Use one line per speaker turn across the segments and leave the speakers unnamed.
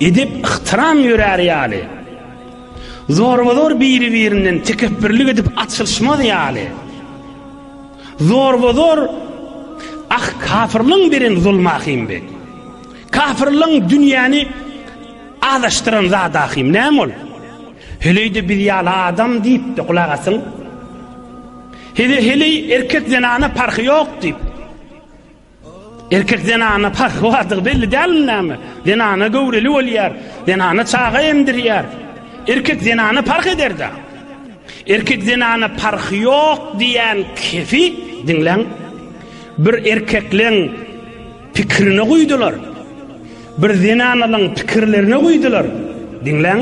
Edep-yhtyram ýörär ýaly, zorba-zor biri-birinden tekepbirlik edip açylyşmaz ýaly, zorba-zor Ah, kafirligiň beren zulmy ahym be! Kafirligiň dünýäni azaşdyran zady ahym, näme ol? Heleý-de biz ýaly adam diýip-de gulak asyň. Heleý, heleý, erkek-zenana parhy ýok diýip. Erkek zenana parhy bardygy belli dälmi näme? Zenana göwreli bolýar, zenana çaga emdirýär. Erkek zenana parh eder-dä. Erkek zenana parhy ýok diýen kefi, diňläň, bir erkekleň pikirine guýdular. Bir zenanalyň pikirlerine guýdular. Diňläň,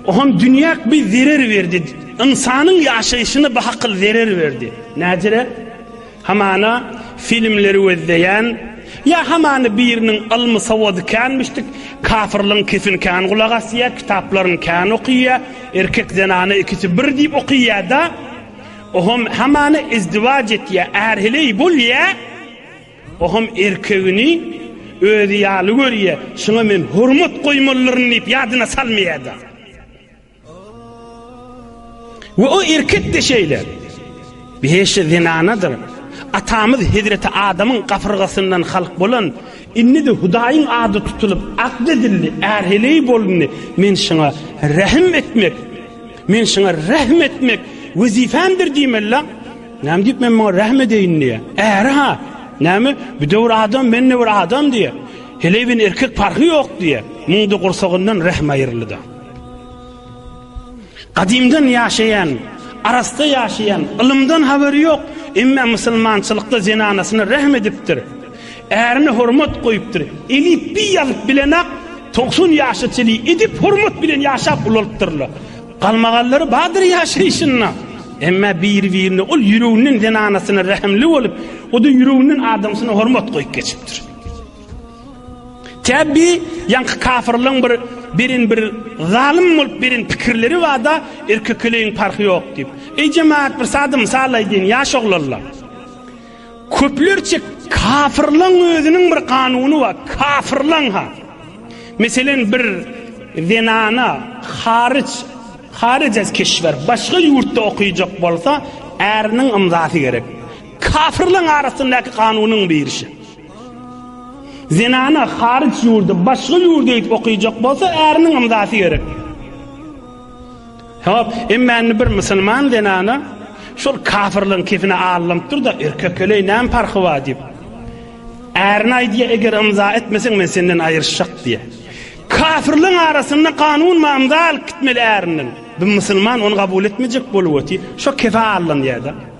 o hem dünýäk bir zerer berdi, ynsanyň ýaşaýşyna bahakyl zerer berdi. Näcirä? Hamana filmleri gözleýän ýa hamana biriniň ylmy sowady känmişdik, kafyrlygyň kesin kän gulak asýa, kitaplaryny kän okyýa, erkek zenana ikisi bir diýip okyýada, ohem hamana izdiwaç etýä, ärheleý bolýa, ohem erkegini özi ýaly görýä, şuňa men hormat goýmalydyryn diýip ýadyna salmaýada. We o erkek-de şeýle. Behişde zenanadyr. Atamyz Hezreti Adamyň gafyrgasyndan halk bolan, indi-de Hudaýyň ady tutulyp, akl edildi, är-heleý bolundy. Men şuňa rähm etmek, men şuňa rähm etmek wezipemdir diýmeli-la. Näme diýip men muňa rähm edeýin diýýär. Äri-ha, näme, bu döwür adam, men-de bir adam diýýär. Heleý bilen erkek parhy ýok diýýär. Muňda gursagyndan rähm aýryldy-da. Gadymdan ýaşaýan, arassa ýaşaýan, ylymdan habary ýok, emma musulmançylykda zenanasyna rähm edipdir, ärine hormat goýupdyr, elipbiý ýazyp bilenak togsan ýaşa çenli edep-hormat bilen ýaşap ulalypdyrlar. Galmagallary bardyr ýaşaýşynda, emma biri-birine ol ýüreginden zenanasyna rähimli bolup, o-da ýüreginden adamsyna hormat goýup geçipdir. Tä bi ýaňky kafyrlaň bir birin bir zalym bolup beren pikirleri bada erkekeleýiň parhy ýok diýip. Eý jemaat bir sada mysal aýdýyn ýaş oglanlar. Köplerçe kafyrlaň özüniň bir kanuny bar. Kafyrlaň ha. Meselen bir zenana haryç haryç ez keşwer başga ýurtda okyjak bolsa äriniň ymzasy gerek. Kafyrlaň arasyndaky kanunyň birisi. Zenana haryç ýurdy, başga ýurdy gidip okyjak bolsa, äriniň ymzasy gerek. Hop, emma indi bir musulman zenana şol kafirligiň kefine alnypdyr da, erkekeleý näme parhy bar diýip. Ärine aýdýar, eger ymza etmeseň men senden aýryşjak diýär. Kafirligiň arasynda kanun bar, ymza alyp gitmeli ärinden. Bu musulman ony kabul etmejek bolup otyr. Şo kefe alynýar-da.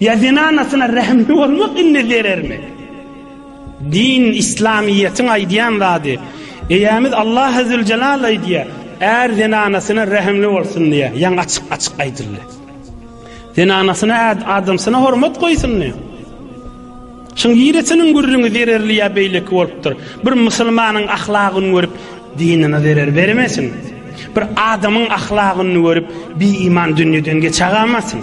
Ýa zenanasyna rehimli bolmak indi zerermi? Din, islamyýetiň aýdýan zady. Eýämiz Allah Azzüljelal aýdýar, Är zenanasyna rehimli bolsun diýýär. Ýaňy açyk-açyk aýdyldy. Zenanasyna äd, adamsyna hormat goýsun diýýär. Şuň giresiniň gürrüňi zererli ýa beýleki bolupdyr. Bir musulmanyň ahlagyny görüp, dinine zerer bermesin. Bir adamyň ahlagyny görüp, bi-iman dünýeden geçagamasyn.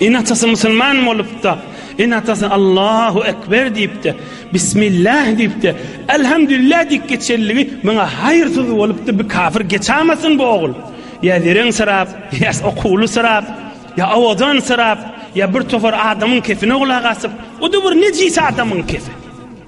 Ene-atasy musulman bolup-da, ene-atasy Allahu ekber diýip-de, bismillah diýip-de, elhamdülillah diýip geçenligi muňa haýyrsyz bolupdy, bu kafir geçamasyn bu ogul. Ýa zereňsirap, ýa okuwlysyrap, ýa owadansyyrap, ýa bir topar adamyň kepine gulak asyp, o-da bir nejis adamyň kefi.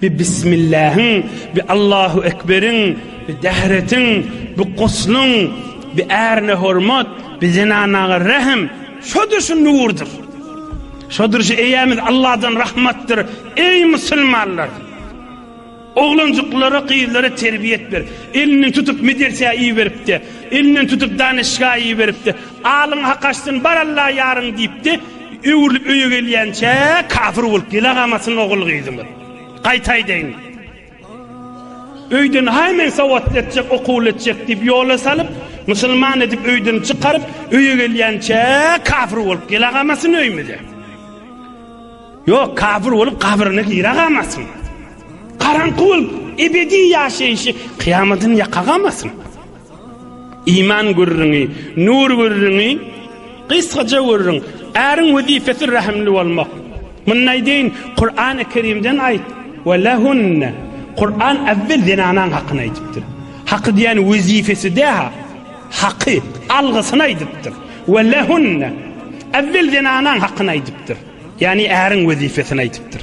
Bi Bismillähiň, bi Allahu Ekberiň, bi Dähretiň, bi Guslyň, bi ärine hormat, bi zenanaga rähm, şodur şu nurdur. Şodur şu eýämiz Allahdan rahmatdyr, eý musulmanlar! Oglanjyklara, gyzlara terbiýet ber. Elinden tutup medersä iberip-de, elinden tutup danyşga iberip-de, alyň hak açsyn, bar Alla ýaryň diýip-de, Öwrülip öýe gelýänçä kapyr bolup gelagamasyn ogul-gyzymyz. Gaýta aýdaýyn. Öýden haý men sowatly etjek, okuwly etjek diýip ýola salyp, musulman edip öýden çykaryp, öýe gelýänçä kapyr bolup gelagamasyn öýmüze. Ýok, kapyr bolup gabryna giregamasyn. Garaňky bolup ebedi ýaşaýşy kyýamadyny ýakagamasyn. Iman gürrüňi, nur gürrüňi, gysgaja gürrüň. Äriň wezipesi rehimli bolmak. Muny nädeýin? Kurany Kerimden aýt. Ve lehunne. Kur'an äwwel zenanaň hakyny aýdypdyr. Haky diýýän wezipesi däha. Haky, algysyny aýdypdyr. Ve lehunne. Äwwel zenanaň hakyny aýdypdyr. Ýagny äriň wezipesini aýdypdyr.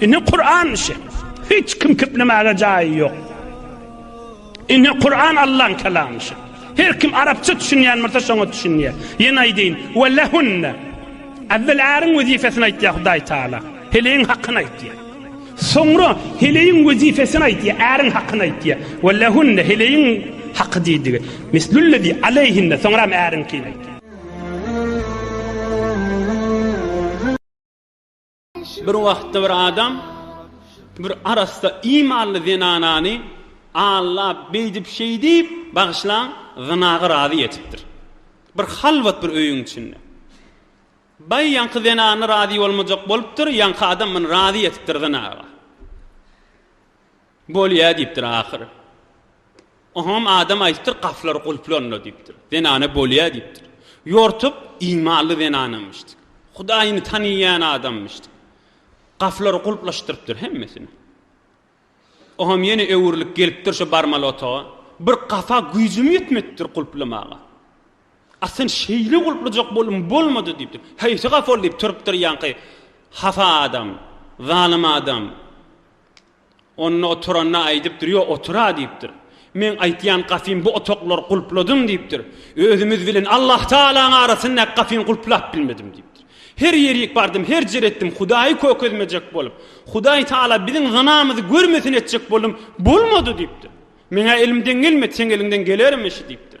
Ine Kur'an işi. Hiç kim kiplemäge jaýy ýok. Ine Kur'an Allah'ın kelamı işi. Her kim Arapça düşünýän bolsa şoňa düşünýär. Ýene aýdýyn. Ve lehunne. Awvel äriň wezipesini aýtýar Hudaý Taala. Heleýiň hakyny aýtýar. Soňra heleýiň wezipesini aýtýar, äriň hakyny aýtýar. Ve lehunne heleýiň haky diýdigi. Mislullezi aleyhinne soňra äriňkini aýtýar. Bir wagtda bir adam bir arassa imanly zenanany aldap beýdip-şeýdip, bagyşlaň, zynaga razy etipdir. Bir halwat bir öýüň içinde. Baý ýaňky zenana razy bolmajak bolupdyr, ýaňky adam muny razy etipdir zynaga. Bolýa diýipdir ahyry. Oňam adam aýdypdyr, gapylar gulplanla diýipdir. Zenana bolýa diýipdir. Ýortup imanly zenanamyşdy. Hudaýyny tanyýan adammyşdy. Gapylary gulplaşdyrypdyr hemmesini. Oňam ýene öwrülip gelipdir şo barmaly otaga. Bir gapa güýjüm ýetmedipdir gulplamaga. Asyn şeýle gulplajak bolum bolmady diýipdir. Haýsy gapyl diýip turupdyr ýaňky hafa adam, zalym adam. Onda oturanda aýdypdyr, Ýok, otur-a diýipdir. Meň aýtýan gafym bu otaklary gulpladyň diýipdir. Özümiz bilen Allahtagalaň arasyndaky gafyny gulplap bilmedim diýipdir. Her ýerik bardym, her jer etdim, Hudaýy kökezmejek bolup, Hudaýtagala biziň zynamyzy görmesin etjek boldum, bolmady diýipdir. Meň-ä elimden gelmedi, seň eliňden gelermişi diýipdir.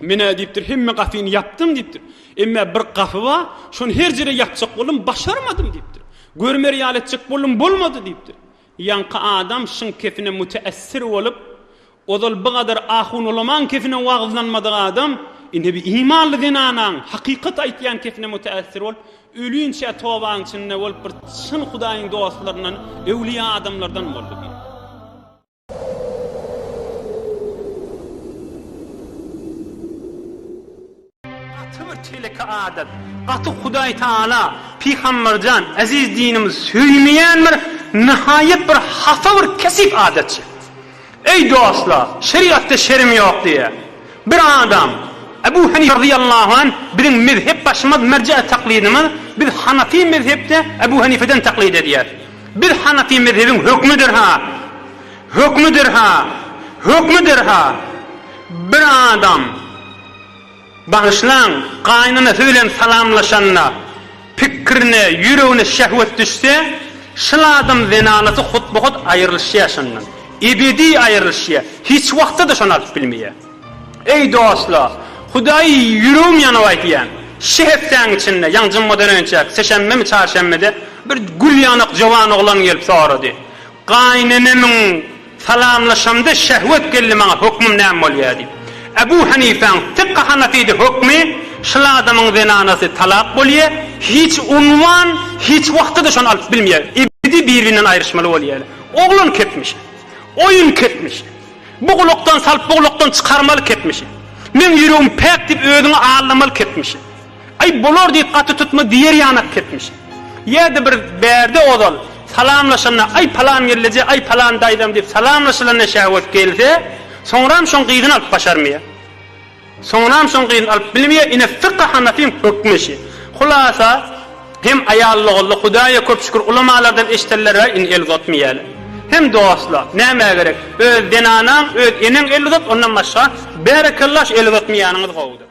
Men-ä diýipdir, hemme gapyny ýapdym diýipdir. Emmä bir gapy bar, şony her jere ýapjak boldum, başarmadym diýipdir. Görmer ýaly etjek boldum, bolmady diýipdir. Ýaňky adam şyň kepine müteessir bolup, ozal bu gadar ahun ulamaň kepine wagyzlanmadyk adam, indi bir imanly zenanaň, hakykat aýtýan kepine müteessir bolup, ölünçä tobaň içinde bolup, bir çyn Hudaýyň dostlaryndan, öwlüýa adamlardan boldy diýipdir. Gaty bir çeleki adat. Gaty Hudaý Taala, Pygamberjan, eziz dinimiz söýmeýän bir nihaýat bir hapa bir kesip adatçy. Eý dostlar, şerigatda şerm ýok diýýär. Bir adam, Ebu Henife razyýallahu anh, biziň mezhep başymyz, merje'e taklidimiz, biz Hanafi mezhepde Ebu Henifeden taklid edýäris. Biz hanafy mezhebiň hökmüdir-ha, hökmüdir-ha, hökmüdir-ha, bir adam, bagyşlaň, gaýynanasy bilen salamlaşanda, pikirine, ýüregine şehwet düşse, şol adam zenanasy hutba-hut aýrylyşýar şondan. Ebedi aýrylyşýar. Hiç wagtda-da şony alyp bilmeýär. Eý dostlar! Hudaýy ýüregim ýanyp aýdýan, şi hepdäň içinde, ýaňy jummadan önçäki sişenbemi, çarşenbede bir gül ýanak jowan oglan gelip sorady, Gaýynenemiň salamlaşamda şehwet geldi maňa hökmüm näme bolýa diýip. Ebu Hanipäň, Fykhy Hanafide, hökmi, şul adamyň zenanasy talak bolýa, hiç unwan, hiç wagtda-da şony alyp bilmeýä, ebedi bir-birinden aýryşmaly bolýaly. Oglan ketmiş. Oýun ketmiş. Bu gulakdan salyp bu gulakdan çykarmaly kepmişi. Meň ýüregim päk diýip özüňi aldamaly kepmişi. Aý bolar diýip gaty tutma diýer ýanak kepmişi. Ýa-da bir bärde ozal salamlaşanda aý palan gelleje aý palan daýzam diýip salamlaşylanda şäwet gelse soňram şoň gyzyny alyp başarmyýa. Soňunam şoň gyzyny alyp bilmeýär ine fykh hanafyň hökmi şi. Hulasa hem aýal loguldy hudaýa köp şükür ulamalardan eşdeller bäri indi el uzatmeýäler. Hem dostla nämä gerek öz zenanaň öz eneň el uzat ondan başga bärekella şu el uzatmaýanyňyz gowudyr.